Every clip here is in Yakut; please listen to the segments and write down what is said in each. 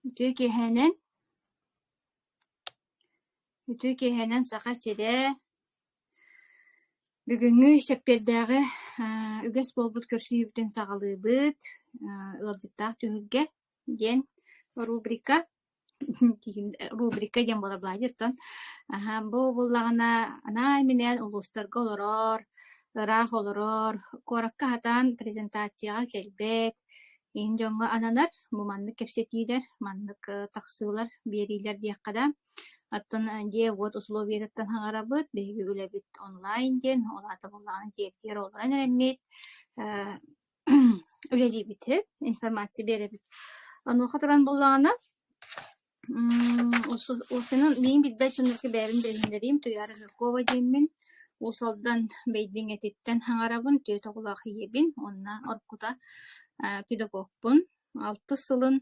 Үтүө киэһэнэн Үтүө киэһэнэн Саха сирэ бүгүҥҥү сэппиэрдээҕи үгэс буолбут көрсүһүүбүтүн саҕалыыбыт ыалдьыттаах түһүлгэ диэн рубрика рубрика диэн буолар баай диэттэн бу буллаҕына анаан-минээн улуустарга олорор ыраах олорор куоракка хатаан презентацияҕа кэлбэт иһин дьоҥҥо ананар бу маннык кэпсэтиилэр маннык тахсыылар биэриилэр диэххэ да оттон дьиэ-уот усулуобуйатыттан хаҥарабыт биһиги үлэбит онлайн диэн ол аата буоллаҕына дьиэргиэр олорон эрэммит үлэлиибит информация биэрэбит онуоха туран буоллаҕына Урсунан миин билбэт дьоннорго бэйэбин билиннэриим Туйаара Жиркова дииммин Уус Алдан Бэйдиҥэтиттэн хаҥарабын, түөрт оҕолоох ийэбин, уонна оркута педагогпун. Алтыс сылын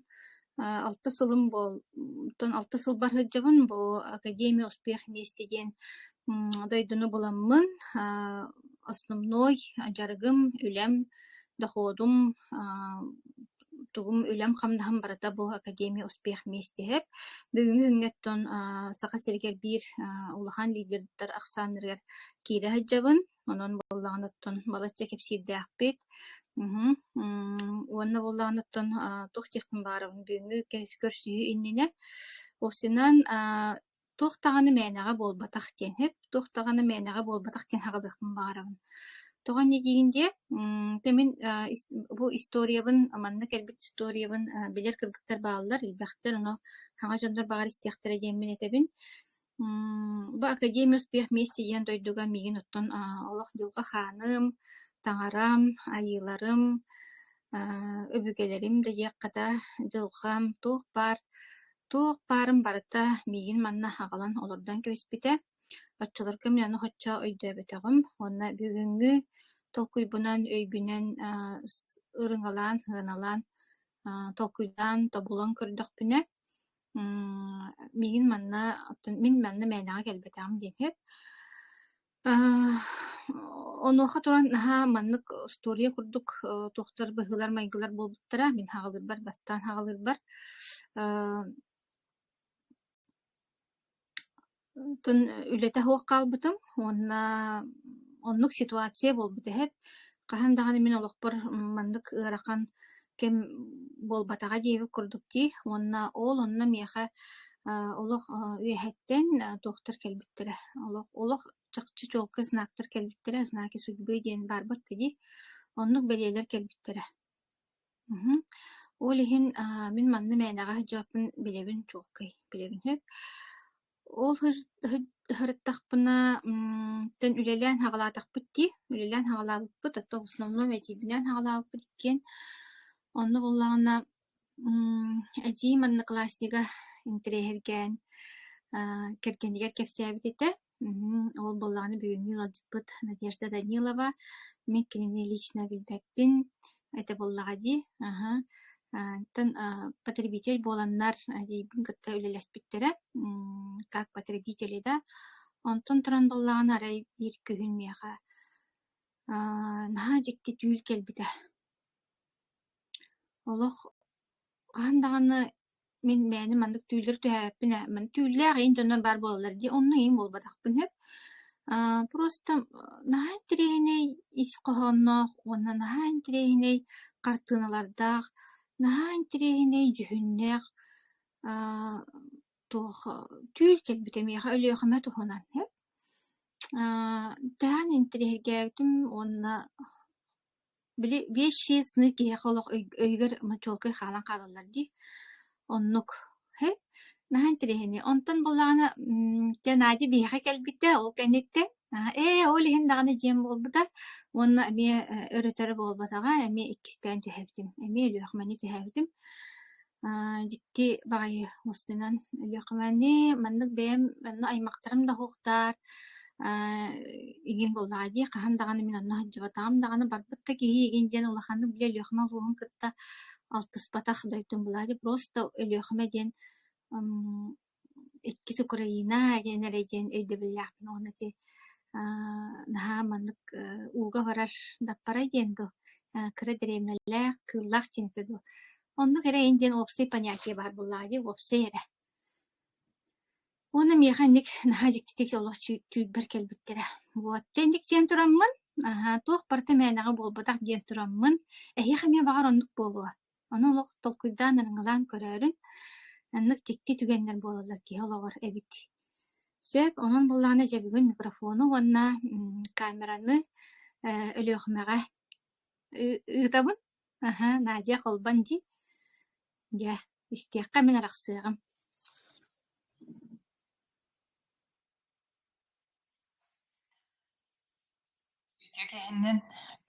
алтыс сылым буолтун алта сыл бар сылдьабын бу Академия успехниисти диэн дойдуну буламмын основной дьарыгым, үлэм, доходум, тугум үлэм-хамнаһым барыта бу Академия успехмейстиһэп. Бүгүҥҥү күҥҥэттэн Саха сиригэр биир улахан лидердар ахсааннарыгар киирэ сылдьабын. Онон буоллаҕын оттон балачча кэпсиирдээхпит. Мм уонна буоллаҕын оттон туох диэхпин баарым бүгүҥҥү көрсүһүү иннинэ усинан туох даҕаны мээнэҕэ буолбатах диэн сөп, туох даҕаны мээнэҕэ буолбатах диэн саҕалыахпын баҕарабын. Тоҕо ини дииһин диэ, ты мин бу историябын манна кэлбит историябын билэр кыргыттар бааллар, билбэхтэр, ону саҥа дьоннор баҕар истиэхтэрэ диэммин этэбин. Бу академия успех вместе диэн дойдуга миигин оттон олох дьылҕа хааным, таҥарам, айыыларым, өбүгэлэрим да диэххэ да дьылҕам туох баар, туох баарын барыта миигин манна аҕалан олордон кэбиспитэ. Оччолорго мин аны оччо өйдөөбөтөҕүм уонна бүгүҥҥү толкуйбунан, өйбүнэн ырыҥалаан, сыаналаан толкуйдаан, тобулан көрдөхпүнэ Миигин манна оттон мин манна мээнэҕэ кэлбэтэҕим диэки аа онуоха туран наһаа маннык устуоруйа курдук э, туохтар быһыылар-майгылар буолбуттара мин хаҕылыырбар бастаан хаҕылыырбар аа Тын үлэтэ суох хаалбытым уонна оннук ситуация буолбут эһэт. Хаһан даҕаны мин олохпор маннык ыарахан кэм буолбатаҕа диэбит курдук дии. Уонна ол онно миэхэ аа олох аа үөһэттэн туохтар кэлбиттэрэ. Олох олох чахчы чуолкай знактар кэлбиттэрэ. Знаки судьбы диэн баарбар да дии. Оннук бэлиэлэр кэлбиттэрэ. Мгм. Ол иһин, аа, мин манна мээнэҕэ сылдьааппын билэбин чуолкай, билэбин сөп. Ол сыр сыр сырыттахпына, м, тэн үлэлээн саҕалаатахпыт дии, үлэлээн саҕалаабыппыт, а то в основном этиибинээн саҕалаабыппыт иккиэн. Онно буоллаҕына, м, эдьиий манныкласснига интэриэһиргээн, аа, кэргэнигэр кэпсээбит этэ. Ол буоллаҕына бүгүҥҥү ыалдьыппыт Надежда Данилова. Мин кинини лично билбэппин этэ буоллаҕа дии. Аһа. Оттон потребитель буоланнар эдийбин кытта үлэлэспиттэрэ. Как потребители да. Онтон туран буоллаҕына арай биир күһүн миэхэ наһаа дьикти түүл кэлбитэ. Олох хаһан даҕаны Мин мээнэ маннык түүллэри түһээбэппин ээ. Ман түүллээх иин дьоннор баар буолаллар дии, онно иин буолбатахпын сөп. Аа, просто наһаа интэриэһинэй ис хоһоонноох уонна наһаа интэриэһинэй хартыыналардаах, наһаа интэриэһинэй дьүһүннээх аа, туох түүл кэлбитэ миэхэ Өлүөхүмэ туһунан сөп. Аа, тэһэн интэриэһиргээбитим уонна Били биэс-шесть сны киһиэхэ олох өйгөр мочуолкай хаалан хаалаллар дии. Оннук. Һэ, наһаа интэриэһинэй. Онтон буоллаҕына, м, дьэ Надя биһиэхэ кэлбиттэ, ол кэнниттэн аа, "Ээ, ол иһин даҕаны дьиэм буолбута уонна эмиэ, э, өрөтөрө буолбатаҕа, эмиэ иккистээн түһэбитим, эмиэ өлүөхмэни түһэбитим". Аа, дьикти баҕайы муссунан өлүөхүмэни маннык бэйэм онно аймахтарым да суохтар аа игин буоллаҕа дии хаһан даҕаны мин онно сылдьыбатаҕым даҕаны барбыт да киһи игин диэн улаханнык били Өлүөхүмэ улууһун кытта алтыспатах дойдум буолааччы просто Өлүөхүмэ диэн м иккис Украина диэн эрэ диэн өйдөбүллээхпин уонна ити наһаа маннык ууга барар Даппарай диэн дуу кыра дэриэбинэлээх кыыллаах тиэнсэ дуу оннук эрэ ин диэн уопсай понятие баар буоллаҕа дии уопсай эрэ уонна миэхэ инник наһаа дьиктитик олох түүлбэр кэлбиттэрэ вот дьэ инник диэн тураммын аһаа туох барыта мээнэҕэ буолбатах диэн тураммын эһиэхэ эмиэ баҕар оннук буолуо Ону олох толкуйдаан арыҥалаан көрөөрүн, маннык дьикти түгэннэр буолаллар киһи олоҕор эбит. Сөп, онон буоллаҕына дьэ бүгүн микрофону уонна м, камераны э, Өлүөхүмэҕэ ыы- ыытабын. Аһа, Надя Холбон дии. Дьэ, истиэххэ мин арахсыаҕым. Ити кэһэннэн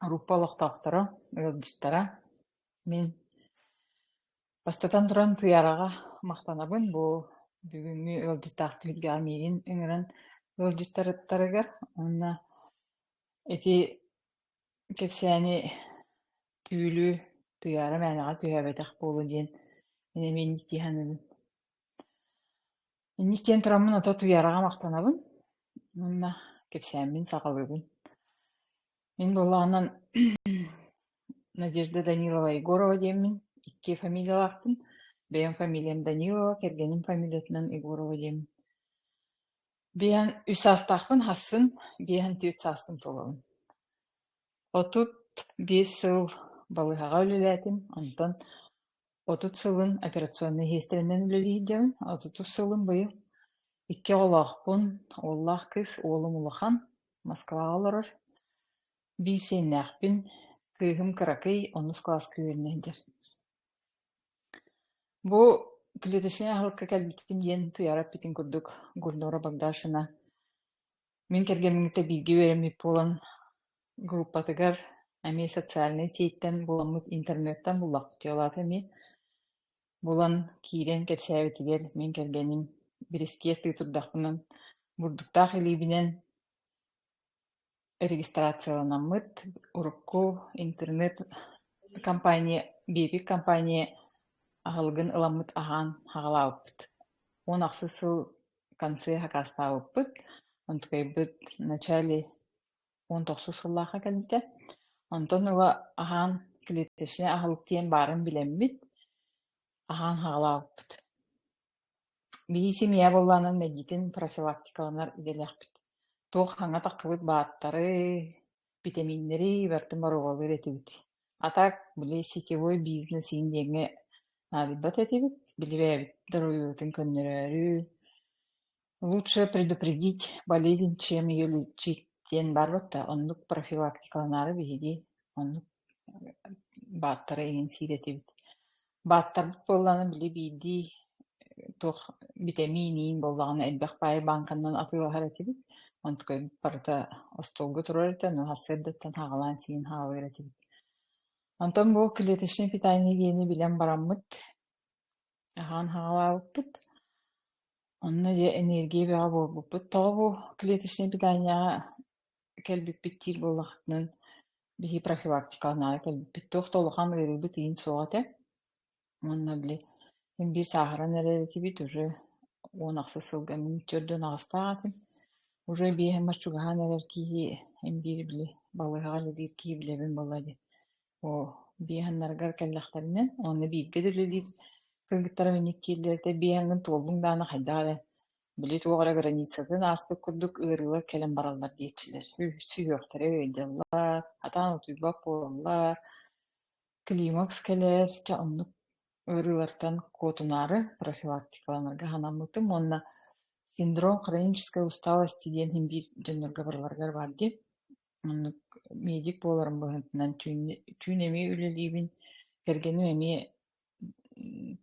группа олохтоохторо, ыалдьыттара, мин бастатан туран Туйараҕа махтанабын бу бүгүҥҥү ыалдьыттаах түһүлгэҕэ миигин ыҥыран ыалдьыттарыттарыгар уонна ити кэпсээни түүлү Туйаара мээнэҕэ түһээбэтэх буолуо диэн эмиэ индии саныыбын Инник диэн тураммын ото утуйараҕа махтанабын уонна кэпсээммин саҕалыыбын. Мин буоллаҕынан Надежда Данилова Егорова диэммин, икки фамилиялаахпын. Бэйэм фамилиям Данилова, кэргэним фамилиятынан Егорова диэммин. Биһэн үс саастаахпын харсын, биһэн түөрт сааспын туолабын. Отут биэс сыл балыыһаҕа үлэлээтим, онтон Отут сылын операционнай иһиэстэринэн үлэлиирдэбин. Отутус сылым быйыл икки оҕолоохпун. Уоллаах кыыс уолум улахан, Москваҕа олорор. Биир сиэннээхпин, кыыһым кыракый, онус кылааска үөрэнэ сылдьар. Бу клеточнай аһылыкка кэлбитим диэн туйаара эппитин курдук Гульнора Богдашина мин кэргэммиттэн бииргэ үөрэммит буолан группатыгар эмиэ социальнай ситтэн буоламмыт интернеттан буллахпытый ол аата эмиэ булан киирэн кэпсээбитигэр мин кэргэним бирискиэс тыы турдахпынан бурдуктаах илиибинэн регистрацияланаммыт урукку интернет компания биэбик компания аһылыгын ыламмыт аһаан хаҕалаабыппыт уон ахсыс сыл консьерж акаастаабыппыт онтукайбыт в начале уон тохсус сыллаахха кэлбитэ. Онтон ыла аһаан клеточнай аһыл диэн баарын билэммит, аһаан хаалаабыппыт. Бии семья буоллаанан мэлдьитин профилактикаланар идэлээхпит. Туох хаҥа таххыбыт бааттары, битэмииннэри бартын боруобалыыр этибит. Атак били сетевой бизнес иин диэҥҥэ наадыйбат этибит, билибээбит даруйуутун көннөрөөрү, лучше предупредить болезнь чем ее лечить диэн барбыта оннук профилактикаланаары биһиги оннук бааттара иҥин сиир этибит бааттарбыт буоллаҕына били биирдии туох битэмиин иин буоллаҕына элбэх баайы бааҥканан атыылаһар этибит онтукайбыт барыта остуолга турар этэ но сарсыардаттан хаҕалаан сиин хаалар этибит онтон бу клеточный питание диэни билэн бараммыт аһаан хаҕалаабыппыт Онно дьэ энергия бөҕө буолбуппут. Тоҕо бу клеточнай питанияҕа кэлбиппит диир буоллахытынан, биһи профилактикаланаары кэлбиппит. Туох да улахан ыарыыбыт иин суох этэ. Уонна били мин биир сааһыран эрэр этибит уже уон ахса сылга мин төрдүн аҕыстаах этим. Уже биэһэммэр чугаһаан эрэр киһи эн биир били балыыһаҕа үлэлиир киһи билэбин буолла дии. Оо, биэһэннэригэр кэллэхтэринэ, онно бииргэ да үлэлиир кыргыттарым инник киирдилэр этэ, биэһэҥҥин туоллуҥ даҕаны хайдах эрэ, били туох эрэ границатын ааспыт курдук ыарыылар кэлэн бараллар диэччилэр. Ү- Сүһүөхтэрэ ыйдьаллар, хатаан утуйбат буолаллар, климакс кэлэр, чэ оннук ыарыылартан куотунаары профилактикаланарга санаммытым уонна синдром хронической усталости диэн иһин биир дьоннорго барыларыгар баар дии. Оннук медик буоларым быһыытынан түүнү түүн эмиэ үлэлиибин. Кэргэним эмиэ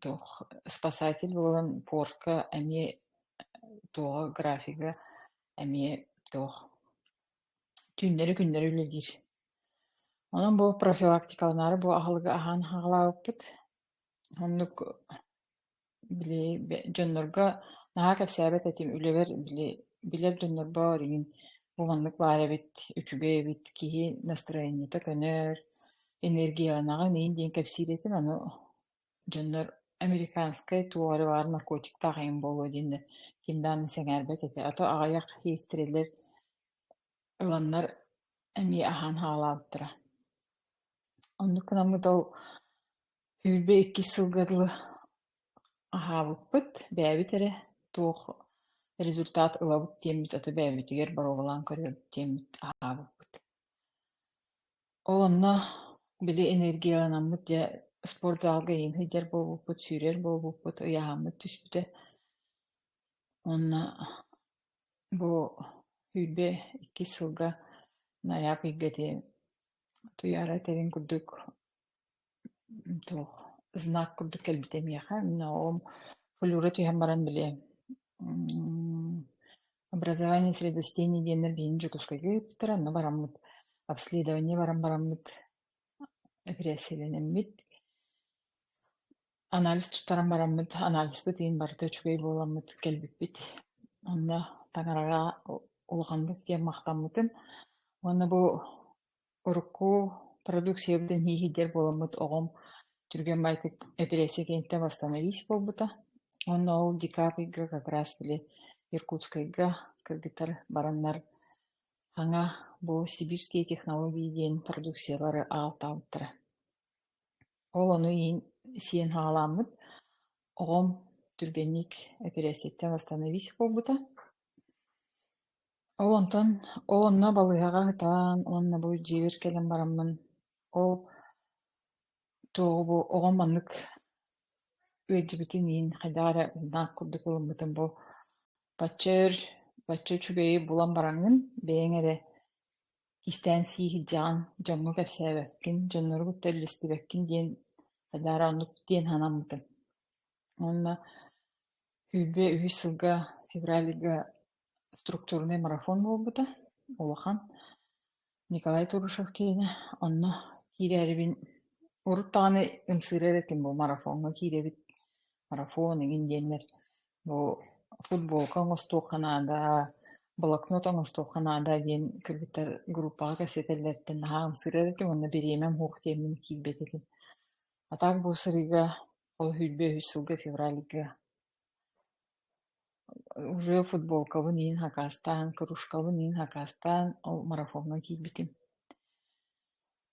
туох спасатель буолан пуорка эмиэ туоҕа графига эмиэ туох түүннэри-күннэри үлэлиир. Онон бу профилактикаланаары бу аһылыгы аһаан аһаҕалаабыппыт. Оннук Били дьоннорго наһаа кэпсээбэт этим, үлэбэр били билэр дьоннорбор эйигин буланнык баар эбит, үчүгэй эбит, киһи настроениета көнөр, энергияланаҕын иһин диэн кэпсиир этим. Аны дьоннор американскай туох эрэ баар наркотиктаах эйиҥ буолуо диэннэр ким даҕаны сэҥээрбэт этэ. А то аҕыйах хейстерэлэр ыланнар эмиэ аһаан хаалаабыттара. Оннук гынаммыт ол Сүүрбэ иккис сылга дылы аһаабыппыт, бэйэбит эрэ туох результат ылабыт диэммит, аты бэйэбитигэр боруобалаан көрүөбүт диэммит аһаабыппыт. Ол онно били энергияланаммыт дьэ спорт заалга иһин сылдьар буолбуппут, сүүрэр буолбуппут, ыйааһаммыт түспүтэ. Уонна бу сүүрбэ иккис сылга наьаак ыйга диэн туйаара этэрин курдук Суох, знак курдук кэлбитэ миэхэ. Но флюра түһэн баран били образование средостений диэннэр билигин Дьокуускайга ыыппыттара, онно бараммыт. Обследование баран бараммыт, эпирессиялэнэммит. Анализ туттаран бараммыт, анализпыт иһин барыта үчүгэй буоламмыт кэлбиппит. Онно таҥараҕа улаханнык диэн махтаммытым. Уонна бу Урукку продукциябытын ииһирдэр буоламмыт оҕом түргэн баайдык эпирессия киһиттэн бастаан иис буолбута. Онно ол Ди Каприга как раз били Иркутскайга кыргыттар бараннар аҥа бу сибирские технологии диэн продукциялары аҕалтаабыттара. Ол ону иһин сиэн хаалааммыт оҕом түргэнник эпирессияттан бастаан иис буолбута. Ол онтон ол онно балыыһаҕа ыһытан уонна бу дьиэбэр кэлэн бараммын ол туоҕу бу оҕом маннык үөрдүбүтүн иһин хайдах эрэ знак курдук ылыммытым бу бачча өр бачча үчүгэйи булан бараҥҥын бэйэҥ эрэ кистээн сии сылдьаҕын дьоҥҥо кэпсээбэккин дьоннору кытта үллэстибэккин диэн хайдах эрэ оннук диэн санаммытым уонна сүүрбэ үһүс сылга февральга структурнай марафон буолбута улахан. Николай Турышев киинэ, онно киирээрибин урут даҕаны ымсыырар этим бу марафоҥҥа киирэбит. Марафон игин диэннэр бу футболка оҥостуохха наада, блокнот оҥостуохха наада диэн кыргыттар группаҕа кэпсэтэллэриттэн наһаа ымсыырар этим уонна бириэмэм суох диэммин киирбэт этим. А так бу сырыыга ол сүүрбэ үс сылга февральга Уже футболкабын иһин хакаастаан, кружкабын иһин хакаастаан ол марафоҥҥа киирбитим.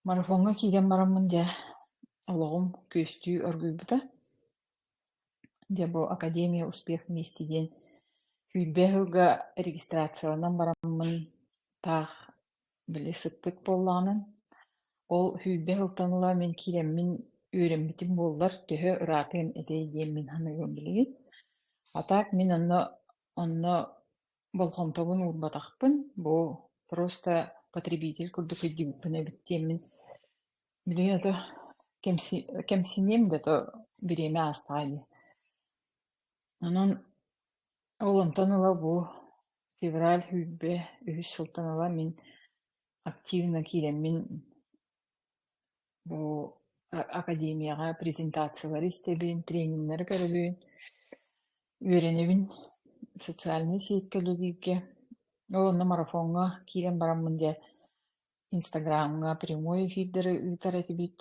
Марафоҥҥа киирэн бараммын дьэ олоҕум күөстүү оргуйбута. Дьэ бу Академия успех вместе диэн сүүрбэ сылга регистрацияланан бараммын таах били сыттык буоллаҕынан ол сүүрбэ сылтан ыла мин киирэммин үөрэммитим буоллар төһө ыраатыан этэй диэммин саныыбын билигин а так мин онно онно болҕомтобун уурбатахпын бу просто потребитель курдук өйдүбүппүн эбит диэммин билигин ото кэмси кэмсиниэм да то бириэмэ аастаҕа дии онон Ол онтон ыла бу февраль, сүүрбэ үһүс сылтан ыла мин активно киирэммин бу академияҕа презентациялары истэбин, трениннэри көрөбүн, үөрэнэбин социальнай сеть кэлэ илиигэ. Ол онно марафоҥҥа киирэн бараммын дьэ Инстаграмҥа прямой эфирдары ыытар этибит,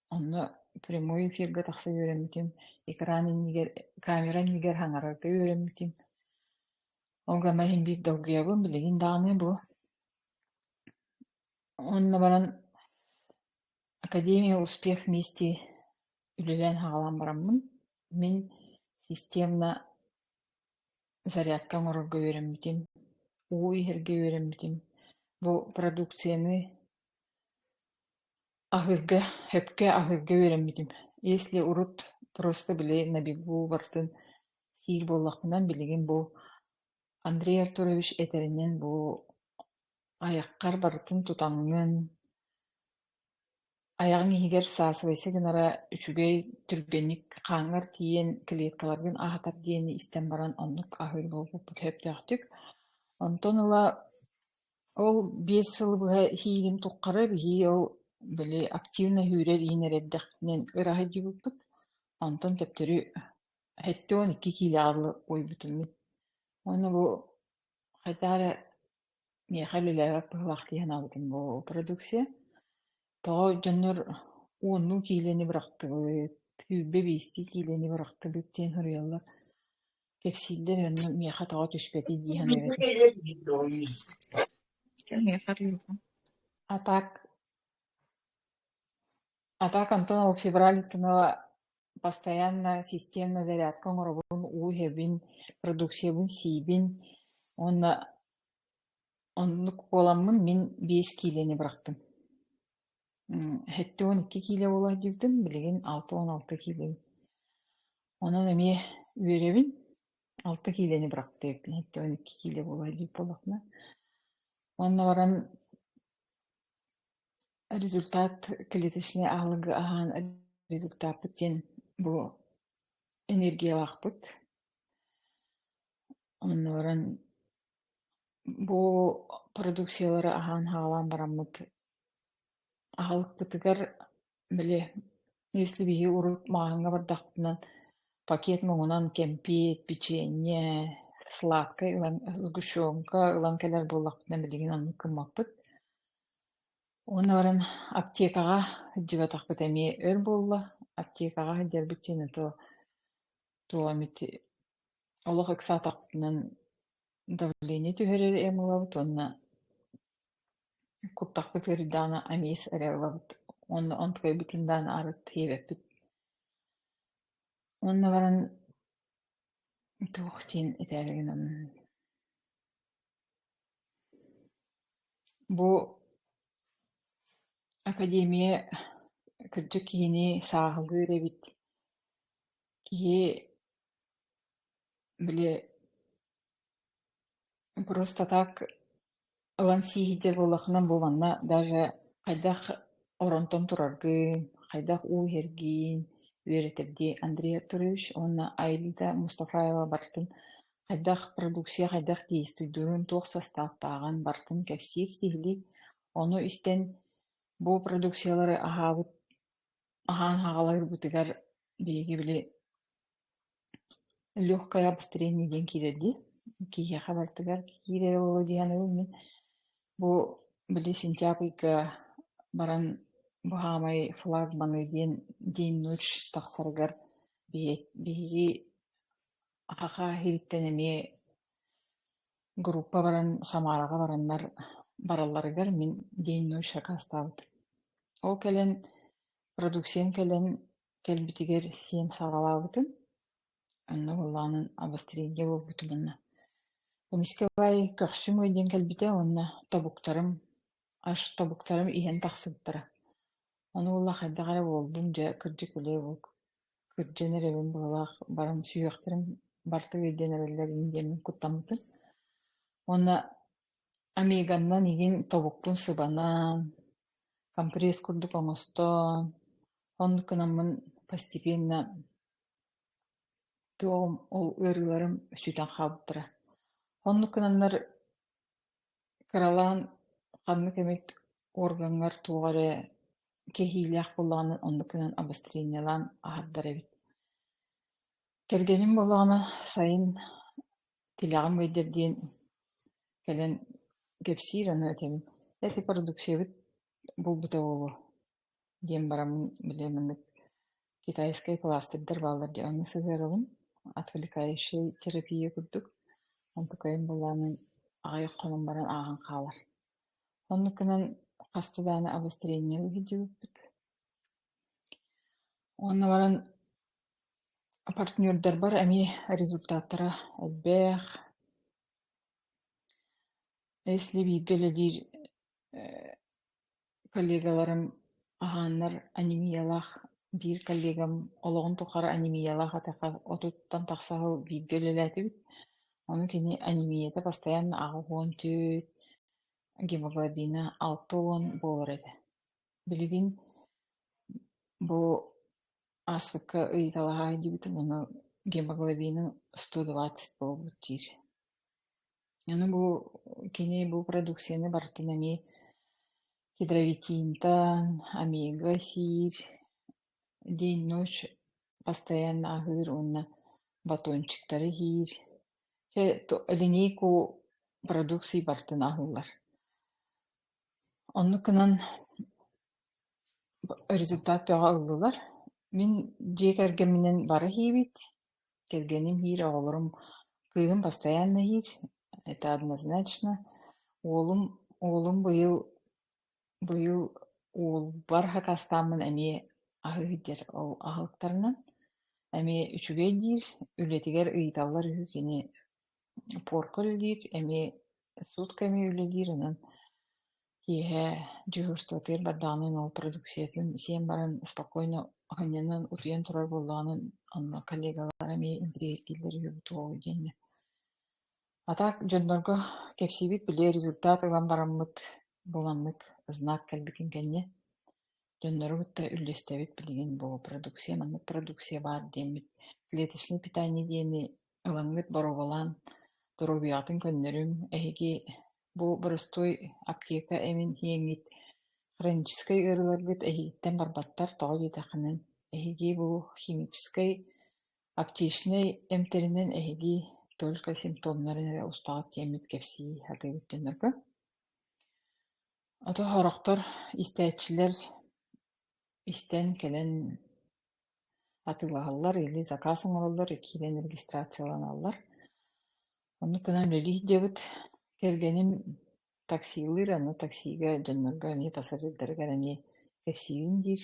онно прямой эфиргэ тахса үөрэммитим, экран иннигэр, камера иннигэр хаҥарарга үөрэммитим. Ол гана иһин биир долгуйабын, билигин даҕаны бу. Онно баран Академия успех вместе үлэлээн-хаҕалаан бараммын, мин системно зарядка оҥорорго үөрэммитим, уу иһэргэ үөрэммитим. Бу продукцияны аһыырга, сөпкө аһыырга үөрэммитим. Если урут просто били на бегу барытын сиир буоллахпынан билигин бу Андрей Артурович этэринэн бу айаххар барытын тутаҥҥын, Айаҕыҥ иһигэр саасыбайса гынара үчүгэй, түргэнник хааҥҥар тиийэн клеткаларгын аһатар диэни истэн баран оннук аһыыр буолбуппут сөптөөхтүк. Онтон ыла ол биэс сыл быһа иһиигин туххары биһии ол били активно иһүүрэр иһинэр эрдэхпинэн ыраһыйдьыбыппыт. Онтон төптөрү сэттэ уон икки киилэҕэ дылы уйбутуммут. Уонна бу хайдах эрэ Миэхэ үлэлээбэт быһыылаах дии санаабытым бу продукция. Тоҕо дьоннор уоннуу киилэни бырахтыбыт, сүүрбэ биистии киилэни бырахтыбыт диэн суруйаллар. Кэпсииллэр онно миэхэ тоҕо түспэтий дии саныыбытым. А так, а так Антон ол февральтынова постоянно системно зарядка оҥоробун, уу иһэбин, продукциябын сиибин уонна Оннук буоламмын мин биэс киилэни бырахтым. Сэттэ уон икки киилэ буолар диэбитим, билигин алта уон алта киилэбин. Онон эмиэ үөрэбин, алта киилэни бырахтым, сэттэ уон икки киилэ буолар диир буоллахпына. Уонна баран результат клеточнай аһылыгы аһаан результаппыт диэн бу энергиялаахпыт. Онно баран бу продукциялары аһаан хаалан бараммыт аһылыкпытыгар били если биһиги урут мааһыҥҥа бардахпытына пакет муҥунан кэмпиэт, печенье, сладкай ылан сгущенка ылан кэлэр буоллахпытына билигин аны кыммаппыт. Уонна баран аптекаҕа сылдьыбатахпыт эмиэ өр буолла. Аптекаҕа сылдьарбыт диэни то туох эмит олох ыксаатахпытынан давление түһэрэр эм ылабыт уонна куттахпыт ыарыйдаҕына аниes эрэ ылабыт уонна онтукайбытын даҕаны арыт тиэбэппит уонна баран туох диин этээри гынан бу академия кырдьык киһини сааһылыыр эбит киһи Били просто так ылан сииһидьэ буоллаххына буоланна даже хайдах оронтон тураргын, хайдах уу иһэргиин үөрэтэрдии Андрей Артурович уонна Аида Мустафаева барытын хайдах продукция хайдах действуйдун, туох састааптааҕын барытын кэпсиир, сиһилиир. Ону истэн бу продукциялары аһаабыт Аһаан аҕаларбытыгар биһиги били легкое обстрение диэн киирэр дии. Киһиэхэ барытыгар киирэр буолуо дии саныыбын мин. Бу били сентябрь ыйга баран бу хаамай флагманы диэн день ночь тахсарыгар биһи биһиги аха-ха иһиттэн эмиэ Группа баран Самараҕа бараннар баралларыгар мин день ночь акаастаабыт. Ол кэлэн продукциям кэлэн кэлбитигэр сиэн саҕалаабытым. Онно буоллаҕынан обострение буолбут уонна эмискэ көхсүм диэн кэлбитэ уонна тобуктарым аш тобуктарым иһэн тахсыбыттара. Ону буолла хайдах эрэ буолдум дьэ кырдьык үлэ буолук Кырдьан эрэбин быһалаах баран сүһүөхтэрим барыта үөрдэн эрэллэрин диэммин куттаммытым. Уонна Омеганнан игин тобукпун сыбанан, компресс курдук оҥостон, оннук гынаммын постепенно ол ыарыыларым сүтэн хаалбыттара. Оннук гынаннар кыралаан ханнык эмит уоргаҥҥар туох эрэ кэһиилээх буоллаҕына оннук гынан обострениелаан аһардар эбит. Кэргэним буоллаҕына сайын тилэҕим ыйдар диэн кэлэн кэпсиир, аны этэбин, эти продукциябыт булбута буолуо диэн бараммын билиэм инник китайскай кластырдар бааллар дии онно сыһыарабын отвлекающий терапия курдук онтукайым былаанын аҕай хонон баран ааҕан хаалар оннукунан хаста даҕаны обострение иһитдьибиппит уонна баран партнердарбар эмиэ результаттара элбэх если бииргэ үлэлиир коллегаларым аһааннар анемиялаах биир коллегам олоҕун тухары анемиялаах этэххэ отуттан тахса сыл бииргэ үлэлээтибит. Ону кини анемията постоянно аҕыс уон төрт, гемоглобина алта уон буолар этэ. Билигин бу ааспыкка ыйыталаһаай диэбитим, ону гемоглобина сто двадцать буолбут диир. Аны бу кини бу продукцияны барытын эмиэ гидровитинтан, омега сиир, день ночь постоянно аһыыр уонна батончиктары иһиир. Чэ линейку продукции барытын аһыыллар. Оннук гынан результат бөҕө ыллылар. Мин дьиэ кэргэмминэн бары иһэбит. Кэргэним иһир, оҕолорум кыыһым постоянно иһир, это однозначно. Уолум, уолум быйыл, быйыл уолбар акаастааммын эмиэ аһы иһдьэр. Ол аһылыктарынан эмиэ үчүгэй диир, үлэтигэр ыйыталлар үһү кини порка үлэлиир, эмиэ сутка эмиэ үлэлиир, онон Киэһэ дежурствотыгар бардаҕынан ол продукциятын сиэн баран спокойно оһанньанан утуйан турар буоллаҕынан онно коллегалара эмиэ интригэһииргииллэр үһү буолуоҕуй диэннэ. А так дьоннорго кэпсиибит били результат ылан бараммыт буоланнык знак кэлбитин кэннэ дьоннору кытта үллэстэбит билигин бу продукция маннык продукция баар диэммит клеточный питание диэни Ылаҥҥыт боруобалаан доруобуйаҕытын көннөрүм. Эһиги бу боростуой аптека эҥин иэҥҥит хроническай ыарыыларгыт эһиитин барбаттар, тоҕо диэтэххинэ, эһиги бу химическэй аптечнай эмтэринэн эһиги только симптомнарын эрэ устаҕыт диэммит кэпсии сатыыбыт дьоннорго. Ото сорохтор, истээччилэр истэн кэлэн Атыылаһаллар, илии сакаас оҥороллор, киирэн регистрацияланаллар. Ону гынан үлэлиир диэбит кэргэним таксилыыр, аны таксига дьоннорго эмиэ пассажирдарыгар эмиэ кэпсиибин диир.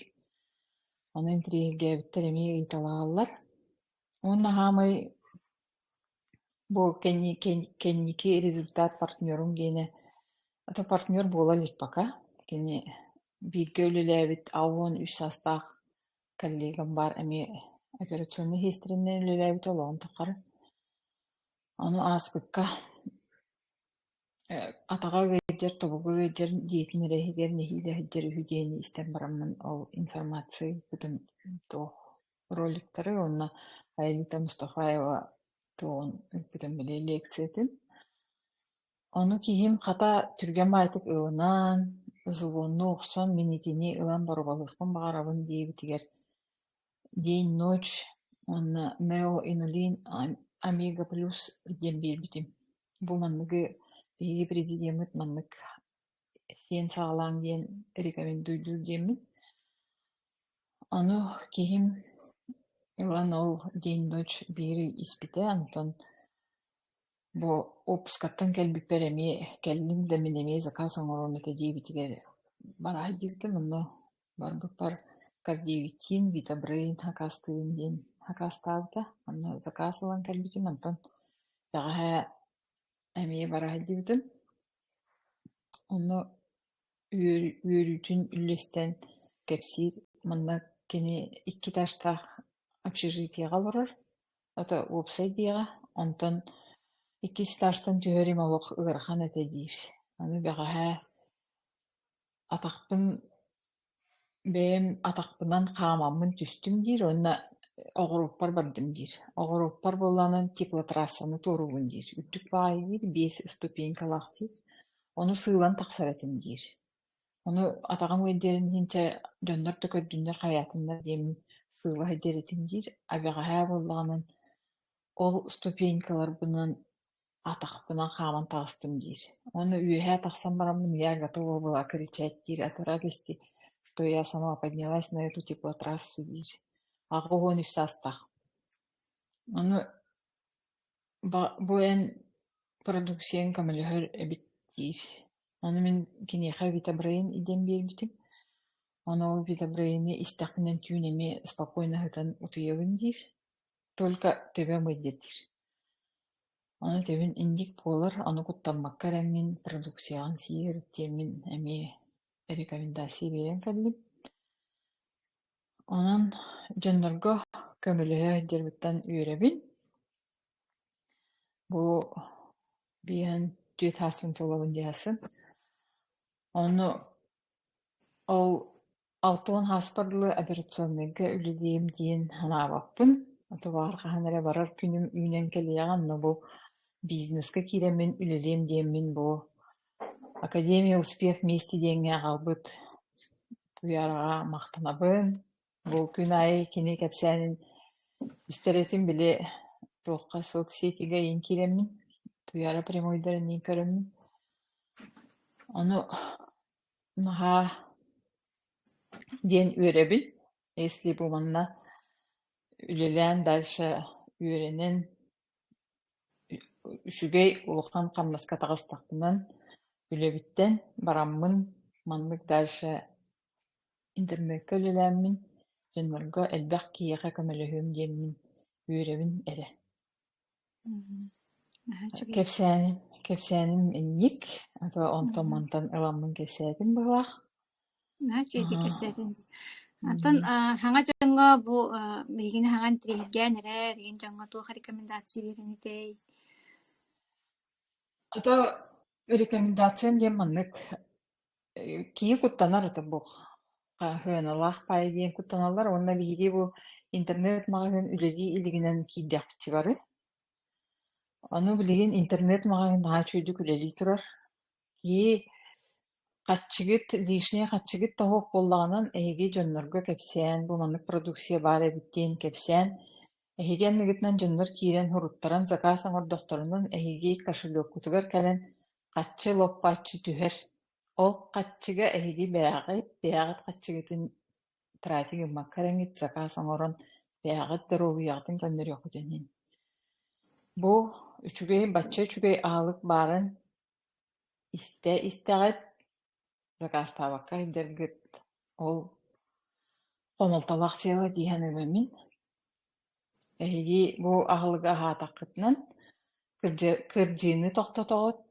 Ону интириэһиргээбиттэр эмиэ ыйыталаһаллар. Уонна хаамай Бу кэнники результат партнерум диэни ата партнер буола илик пока кини бииргэ үлэлээбит аҕа уон үс саастаах коллегам баар эмиэ операционнай иһитиннэринэн үлэлээбит олоҕун тухары ону ааспыкка атаҕа ыалдьар тобугу ыалдьар дьиэтин эрэ иһигэр нэһиилэ сылдьар үһү диэни истэн бараммын ол информациябытын туох роликтары уонна Аэлита Мустафаева туоҕун эппитим билээ лиэксийэтин. Ону киһим хата түргэн баайтык ылынан, звонну охсон, мин итини ылан боруобалыахпын баҕарабын диэбитигэр день ночь уонна Нео Инулин Омега Плюс диэн биэрбитим. Бу манныгы биһиги президеммыт маннык сиэн саҕалааҥ диэн рекомендуйдуур диэммин. Аны киһим ылан ол день ночь биири испитэ, онтон бу уоппускаттан кэлбиппэр эмиэ кэллим да мин эмиэ заказ оҥоруом этэ диэбитигэр бараай диэбитим, онно барбыппар кардиовитиин, витобрейн акаастыыбын диэн акаастаабыта. Онно заказ ылан кэлбитим, онтон бэҕэһээ эмиэ бараһа диэбитим онно үөрүүтүн үллэстэн кэпсиир манна кини икки этажтаах общежитиеҕа олорор ата уопсай дьиэҕэ онтон иккис этажтан түһэр имэ олох ыарахан этэ диир аны бэҕэһээ Атахпын бэйэм атахпынан хаамаммын түстүм диир уонна оҕуруоппар бардым диир. Оҕуруоппар буоллаҕынан теплотрассаны туоруубун диир. Үрдүк баайы диир, биэс ступенькалаах диир. Ону сыылан тахсар этим диир. Ону атаҕым үөддэрин иһин чэ дьоннор да көрдүннэр хайаатыннар диэммин сыыла сылдьар этим диир. Эбэҕэһээ буоллаҕынан Ол ступенькаларбынан атахпынан хааман таҕыстым диир. Уонна үөһээ тахсан бараммын «Я готова была кричать» диир, «Отворяй кисти, то я сама поднялась на эту теплотрассу» диир. Аҕа уон үс саастаах. Ону бу эн продукцияҥ көмөлөһөр эбит диир. Ону мин киниэхэ витабрейн диэн биэрбитим. Ону ол витабрейны истэхпинэн түүн эмиэ спокойно ыһытан утуйабын диир. Только төбөм ыйдатыр Ону тэбин инник буолар, ону куттаммакка эрэҥҥин, продукцияҕын сиир диэммин эмиэ рекомендация биэрэн кэллим. Онон дьоннорго көмөлөһө сылдьарбыттан үөрэбин. Бу биһэн түөрт сааспын толлобун дии сылдьан. Ону ол Алта уон сааспар дылы операционнайга үлэлиим диэн санаабаппын. Атабаар хаһан эрэ барар күнүм үүнэн кэлиэҕин но бу бизнеска киирэммин үлэлиэм диэммин бу Академия успех вместе диэҥҥэ аҕалбыт куйаараҕа махтанабын. Бу күн аайы кини кэпсээнин истэр этим били туохха соцсетигаиин киирэммин, Туйаара прямойдарын иин көрөммүн. Ону Наһаа диэн үөрэбин. Если бу манна үлэлээн дальше үөрэнэн үчүгэй улахан хамнаска таҕыстахпынан үлэбиттэн бараммын маннык дальше интернеккэ үлэлээммин дьоннорго элбэх киһиэхэ көмөлөһүөм диэммин үөрэбин эрэ Кэпсээним, кэпсээним инник, а то онтон-мантан ыламмын кэпсээтим быһылаах. Оттон саҥа дьоҥҥо бу биһигини саҥа интриһиргээн эрэ, билигин дьоҥҥо туох рекомендация биэриэн этэй? А то рекомендациям диэн маннык: Киһи куттанар это бу хаһыаналаах паайа диэн куттаналлар уонна биһиги бу интернет-маҕаһыын үлэлии илигинэн киирдэхпитигэр бары. Ону билигин интернет-маҕаһыын наһаа үчүгүйдүк үлэлии турар. Киһи хаччыгыт, лишнее хаччыгыт да суох буоллаҕынан, эһиги дьоннорго кэпсээн, бу маннык продукция баар эбит диэн кэпсээн, Эһиги анныгытынан дьоннор киирэн уруттаран сакаас оҥордохторунан эһиги кошелёккутугар кэлэн хаччы лоппоччу түһэр, ол хаччыга эһиги бэйэҕит бэйэҕит хаччыгытын тратик гыммакка эрэҥҥит сакаас оҥорон бэйэҕит доруобуйаҕытын көннөрүөххүтүн иһин. Бу үчүгэй, бачча үчүгэй аһылык баарын Истэ-истэҕит, закаастаабакка иһэргит, ол хомолтолоох дьыала дии саныыбын мин. Эһиги бу аһылыгы аһаатаххытынан кырдьы кырдьыыны тохтотоҕут,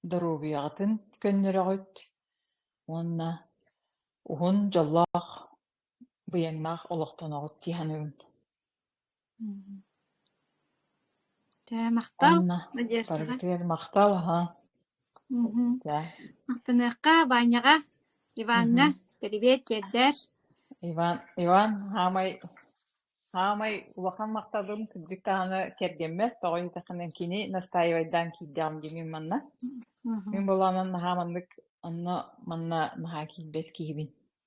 доруобуйаҕытын көннөрөҕүт уонна уһун дьоллоох быйаҥнаах олохтоноҕут дии саныыбын Тээ, махтал, Анна Надеждаҕа. утарытыгар махтал аһа Мгм. тээ Махтаныахха Ваняҕа, Иваҥҥа, мгм. привет тиэрдэр. Иван Иван хаамай хаамай улахан махталым кырдьык даҕаны кэргэммэр тоҕо дитэххинэ кини настаивайдаан киирдэҕим дии мин манна мин Мгм. былаанан наһаа маннык онно манна наһаа киирбэт киһибин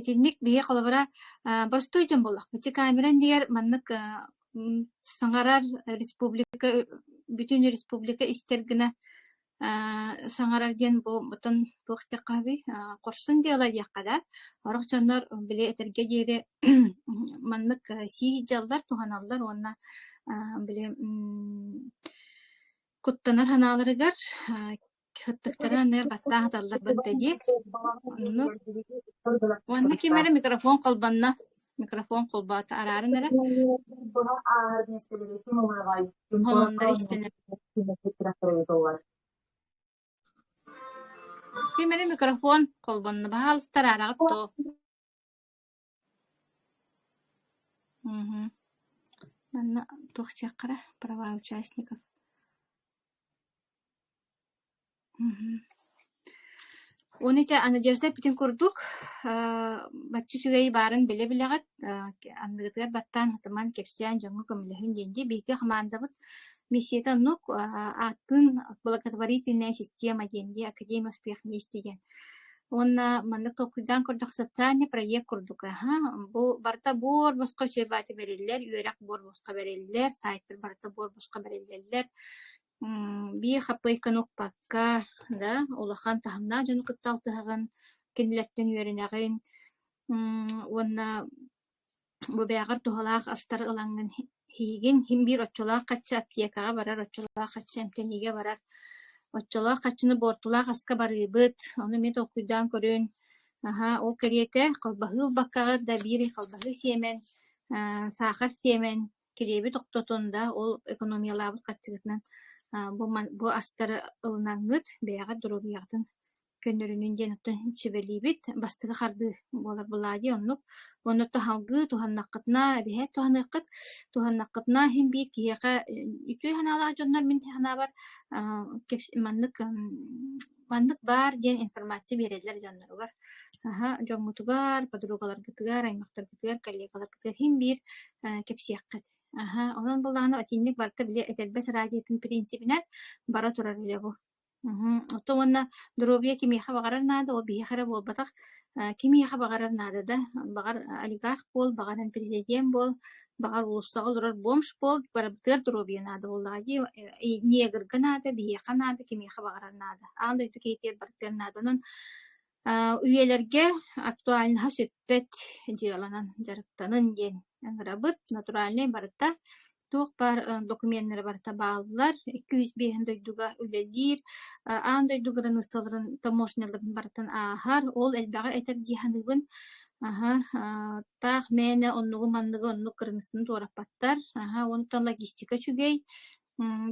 Итинник биһиэхэ холобура простой дьон буоллахпыт. Ити камера иннигэр маннык саҥарар республика бүтүн республика истэр гына саҥарар диэн бу ботон туох диэххэ аһабый хорсун дьыала диэххэ да орох дьоннор били этэргэ диэри маннык сии сылдьаллар туһаналлар уонна били куттанар санааларыгар Ыттыктара андыгар баттаах аталлар батта дии. Оннук. Уонна ким эрэ микрофон холбонно. Микрофон холбоото арааран эрэ. Холоннор истэнэр. Ким эрэ микрофон холбонно. Баһаалыстар араҕыт тоо. Мм манна туох диэххэрэ праваа участников мм Оны ити Надежда эппитин курдук бачча үчүгэй баарын билэ-билэҕит аныгытыгар баттаан хатыман кэпсээн дьоҥҥо көмөлөһүн диэн дии биһиги хамаандабыт миссията оннук ааттыын благотворительная система диэн дии академия успех вместе диэн Уонна маннык толкуйдаан көрдөх социальный проект курдук аһа бу барыта буор босхо үчүгэй баата бэриллэр, үөрэх буор босхо бэриллэр, сайтыр барыта буор босхо бэриллэллэр. биир хаппыйканы укпакка, да, улахан таһымнаах дьону кытта алтыһаҕын, кинилэртэн үөрэнэҕин, уонна Бу бэйэҕэр туһалаах астар ылаҥҥын иһигин, иһин биир оччолоох хачча аптекаҕа барар, оччолоох хачча эмтэниигэ барар. Оччолоох хаччыны буортулаах аска барыыбыт, ону эмиэ толкуйдаан көрүөн. Наһаа ол кэриэтэ халбаһыы ылбаккаҕыт да биир халбаһыы сиэмэн, аа саахар сиэмэн, килиэби тохтотон да ол экономиялаабыт харчыгытынан бу ман бу астары ылынаҥҥыт бэйэҕэр доруобуйаҕытын көннөрүнүн диэн оттон сүбэлиибит бастакы хардыы буолар былаа дии оннук уонна таһалгыы туһаннаххытына эбиһээт туһаныаххыт туһаннаххытына иһин биир киһиэхэ үтүө санаалаах дьоннор мин санаабар маннык маннык баар диэн информация биэрэллэр дьонноругар аһа дьоҥҥутугар подругаларгытыгар аймахтаргытыгар коллегаларгытыгар иһин биир кэпсиэххит аһа онон былаана итинник барыта били этэрбэс радиотын принципинэн бара турар үлэ бу Мгм. Ото уонна доруобуйа кимиэхэ баҕарар наада, ол биһиэхэ эрэ буолбатах. Э, кимиэхэ баҕарар наада да. Баҕар олигарх буол, баҕаран президент буол, баҕар уулуссаҕа олорор бомж буол, барыбытыгар доруобуйа наада буоллаҕа дии. Э, и негрга наада, биһиэхэ наада, кимиэхэ баҕарар наада. Аан дойду киһитигэр барытыгар наада. Онон э, үйэлэргэ актуальноһа сүппэт дьыаланан дьарыктанын диэн ыҥырабыт. Натуральнай барыта туох баар докуменнары барыта бааллар. 205 дойдуга үлэлиир, аан дойду границаларын таможняларын барытын ааһар. Ол элбэҕи этэр дии саныыбын. Аһа, таах мээнэ оннугу-манныгы оннук кыргыссыны туораппаттар. Аһа, онтон логистика үчүгэй.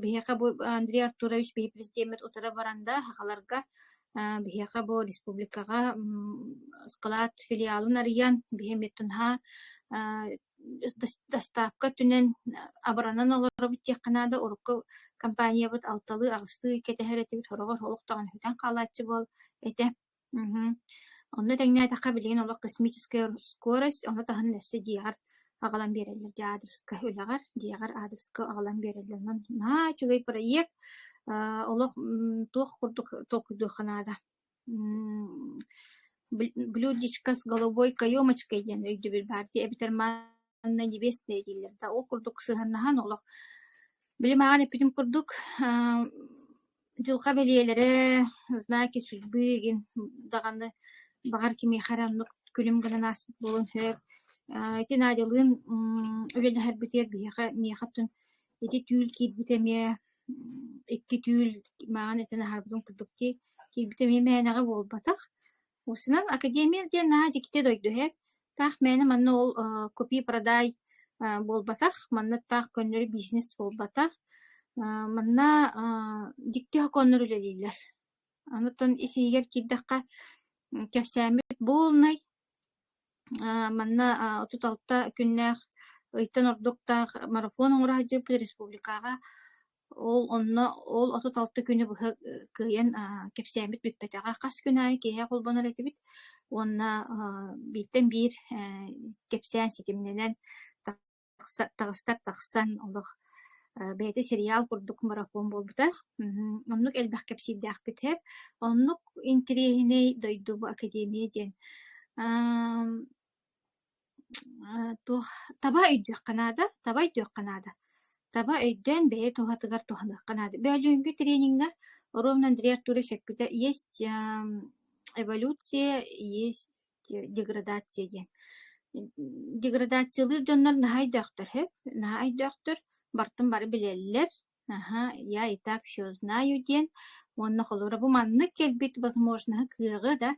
Биһиэхэ бу Андрей Артурович биһи президеммит утары баранда хахаларга биһиэхэ бу республикаҕа скалат филиалын арыйан биһи эмиттун ха Доставка өттүнэн абыранан олоробут диэххэ наада, урукку компаниябыт алталыы, аҕыстыы кэтэһэр этибит, сороҕор олох даҕаны сүтэн хаалааччы буол этэ. Мхм. Онно тэҥнээтэххэ билигин олох космическая скорость, ону таһынан өссө дьиэҕэр аҕалан биэрэллэр. Дьэ, аадырыска үлэҕэр, дьиэҕэр аадырыска аҕалан биэрэллэр. Онон наһаа үчүгэй проект. Аа, олох м, туох курдук толкуйдуохха наада. блюдечко с голубой каемочкой диэн өйдөбүл баар дии эбэтэр манна невесты дииллэр да ол курдук сыһыаннаһан олох билим ааҕан эппитим курдук дьылҕа бэлиэлэрэ знаки судьбы гин даҕаны баҕар кимиэхэ эрэ оннук күлүм гынан ааспыт буолуон сөп ити Надялыын үлэлэһэрбитигэр биһиэхэ миэхэ тун Ити түүл киирбит эмиэ икки түүл мааҕын этэн аһарбытым курдук дии. Киирбит эмиэ мээнэҕэ буолбатах. Устунан академия диэн наһаа дьиктитэ дойду иһэ. Таах мээнэ манна ол э купи-продай э буолбатах. Манна таах көннөрү бизнес буолбатах. Э манна э дьикти сокуоннар үлэлииллэр. Онтон ис-иһигэр киирдэххэ кэпсээммит буолнай. Э, манна а, отут алта күннээх ыйтан ордуктаах марафон оҥоро сылдьыппыт республикаҕа. Ол онно ол отут алта күнү быһа э, кыайан а, кэпсээммит бүппэтэҕэ. Хас күн аайы киэһэ холбонор этибит. Уонна а, бииртэн биир э, кэпсээн ситимнэнэн таҕыстар тахсан олох бэйэтэ сериал курдук марафон буолбута. Оннук элбэх кэпсиирдээхпит Оннук интириэһинэй дойду бу академия диэн туох таба өйдүөххэ наада, таба өйдүөххэ наада. Таба өйдөөн бэйэ туһатыгар туһаныахха наада. Бөөлүүнкү трениҥҥэ Ровно Андрей Артурович эппитэ есть эволюция, есть деградация диэн деградациялыыр дьоннор наһаа өйдөөхтөр сөп наһаа өйдөөхтөр бартын бары билэллэр аха я и так все знаю диэн уонна холура бу маннык кэлбит возможноһа кыаҕы да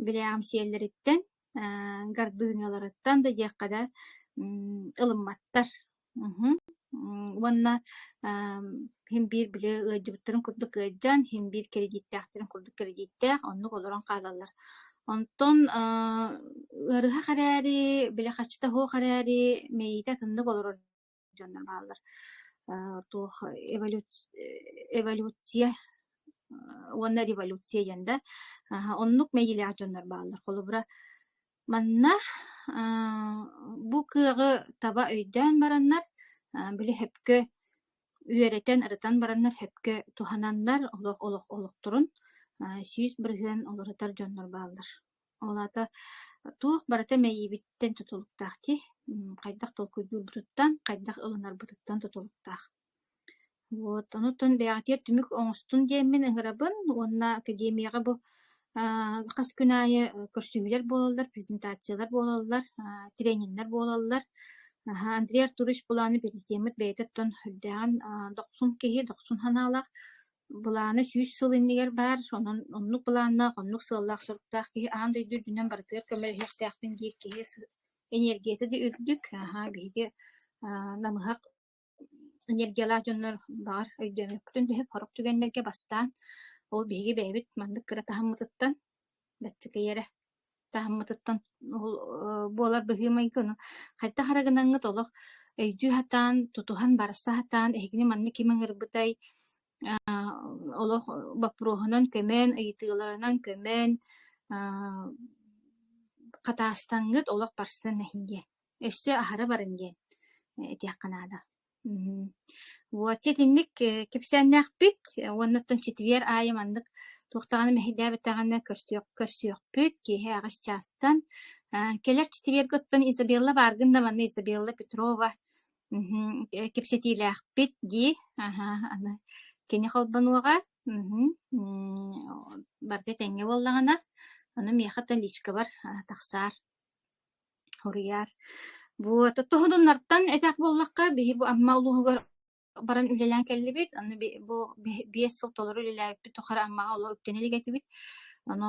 билээҕим сиэллэриттэн гардынияларыттан да диэххэ да ылымматтар Мгм. М, уонна ам, син биир били ыалдьыбыттарын курдук ыалдьан, син биир кредиттээхтэрин курдук кредииттээх, оннук олорон хаалаллар. Онтон аа, ыарыһах эрээри, били хачыта суох эрээри, мэйиитэ атыннык олорор дьоннор бааллар. Аа, туох эволюц- эволюция а, уонна революция диэн да, аһа, оннук мэйиилээх дьоннор бааллар. Холобура, Манна бу кыаҕы таба өйдөөн бараннар, били сөпкө үөрэтэн, ырытан бараннар сөпкө туһананнар олох олох олохторун сүүс бырыһыан уларытар дьоннор бааллар. Ол аата туох барыта мэйиибиттэн тутулуктаах дии. Хайдах толкуйдуурбутуттан, хайдах ылынарбытыттан тутулуктаах. Вот, онутун бэҕэтиэр түмүк оҥостун диэммин ыҥырабын уонна академияҕа бу аа хас күн аайы көрсүһүүлэр буолаллар, презентациялар буолаллар, аа трениннэр буолаллар. Аһа, Андрей Артурович былааны бэлисиэммит бэйэтэ оттон үрдээҕин аа дохсун киһи, дохсун санаалаах. Былаана сүүс сыл иннигэр баар, онон оннук былааннаах, оннук сыаллаах-соруктаах киһи аан дойду үрдүнэн барытыгар көмөлөһүөхтээхпин диир киһи сы- эниэргийэтэ да үрдүк. Аһа, биһиги аа намыһах энергиялаах дьоннор, баҕар, өйдөөмөкпүтүн түһүп хорук түгэннэргэ бастаан, ол биһиги бэйэбит маннык кыра таһыммытыттан, бэттикэй эрэ таһыммытыттан буолар быһыы-майгы, ону хайдах эрэ гынаҥҥыт олох өйдүү сатаан, тутуһан барса сатаан, эһигини манна ким ыҥырбытай, олох боппуруоһунан көмөөн, ыйытыыларынан көмөөн, хатаастаҥҥыт олох барсан иһин диэн. өссө аһара баран диэн этиэххэ наада. Мм. Вот итинник кэпсээннээхпит уоннаттан ситиһиэр аайы маннык туохтаҕына мэһэйдээбэтэҕинэ көрсүөх көрсүөхпүт киэһэ аҕыс чаастан кэлэр ситиһиэргэ оттон Изабелла бааргын да манна Изабелла Петрова кэпсэтиилээхпит дии аны кини холбонуоҕа барда тэҥҥэ буоллаҕына аны миэхэ та личкабар тахсаар Суруйар. Бу т туһунуннартан этэх буоллахха, биһи бу Амма улууһугар баран үлэлээн кэллибит. Аны би бу биэс сыл толору үлэлээбиппит тухары Аммаҕа олох үктэни илик этибит. Ону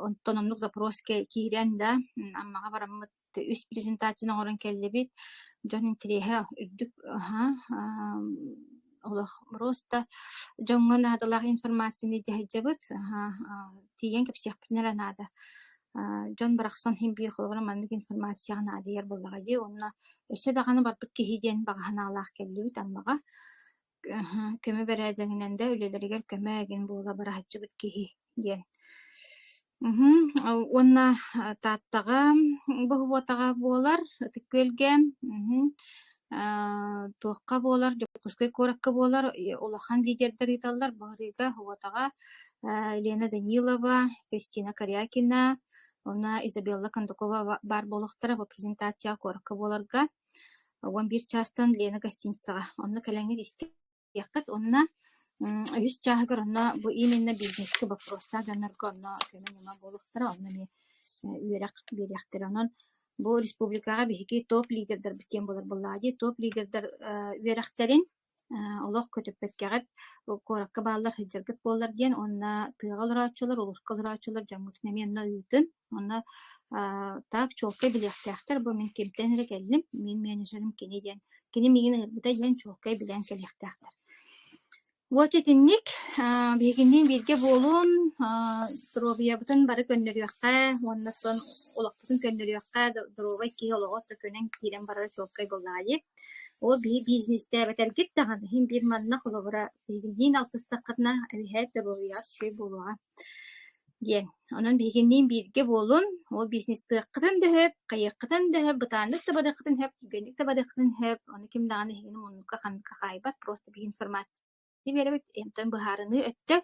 онтон оннук запрос киирэн да Аммаҕа бараммыт үс презентацияны оҥорон кэллибит. Дьон интэриэһэ үрдүк, аһа, олох просто дьоҥҥо наадалаах информацияны дьаһайдьабыт, тиийэн кэпсиэхпитин эрэ наада. дьон барахсан син биир холобура маннык информацияҕа наадыйар буоллаҕа дии уонна өссө даҕаны барбыт киһи диэн баҕа санаалаах кэллибит Аммаҕа көмө бэрээдэгинэн да үлэлэригэр көмө гин буола быраһаччыбыт киһи диэн Мгм. Э, уонна а, Тааттаҕа боһуотаҕа буолар Ытык-Күөлгэ мгм. Э, туохха буолар Дьокуускай куоракка буолар и улахан лидердэр ыыталлар бу арыыга боһуотаҕа э, Елена Данилова, Кристина Корякина, уонна Изабелла Кондакова ба- баар буолуохтара бу презентацияҕа куоракка буоларга уон биир чаастан Лена гостиницаҕа онно кэлэҥҥэр истэ диэххит уонна үһүс чааһыгар онно бу именно бизнескэ боппуруостаах дьоннорго онно көмө-ньыма буолуохтара онно эмиэ үөрэх биэриэхтэрэ онон бу республикаҕа биһиги топ лидердэрбит диэн буолар буоллаҕа дии топ лидердэр үөрэхтэрин олох көтүппэккэҕит куоракка бааллар сылдьаргыт буоллар диэн уонна тыаҕа олорооччулар улууска олорооччулар дьоҥҥутун эмиэ онно ыытын Онно аа так чуолкай билиэхтээхтэр бу мин кимтэн эрэ кэллим, мин менеджерим кини диэн, кини миигин ыҥырбыта диэн чуолкай билэн кэлиэхтээхтэр. Уоча итинник аа биһигини бииргэ буолун, аа доруобуйабытын бары көннөрүөххэ уонна сон олохпутун көннөрүөххэ, доруобай киһи олоҕо да көнөн киирэн барара чуолкай буоллаҕа дии. Ол биһи бизнестээбэтэргит даҕаны иһин биир манна холобура биһигиниин алтыстаххытына эбиһээт доруобуйаҕыт үчүгэй буолуоҕа. диэн. Онон биһигинниин бииргэ буолун, ол бизнестыаххытын дөһөп, хайыаххытын дөһөп, бытааннык табадыаххытын сөп, түргэнник табадыаххытын сөп, ону ким даҕаны эһигини муннукка ханныкка хаайбат, просто биинформация биэрэбит, эмтэн быһаарыныы өттө,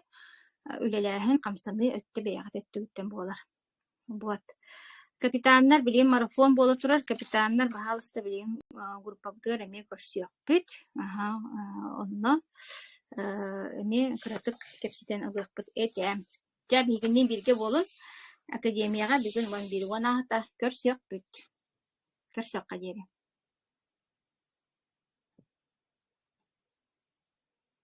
үлэлээһин, хамсаныы өттө бэйэҕит өттүгүттэн буолар. Вот. Капитаннар, билигин марафон буола турар, капитаннар баһаалыста билигин э, группабытыгар эмиэ көрсүөхпүт. Аха, э, онно э, эмиэ кыратык кэпсэтэн ылыахпыт этэ. Дьэ, биһигини бииргэ буолун. Академияҕа бүгүн уон биир уон аата көрсүөхпүт. Көрсүөххэ диэри.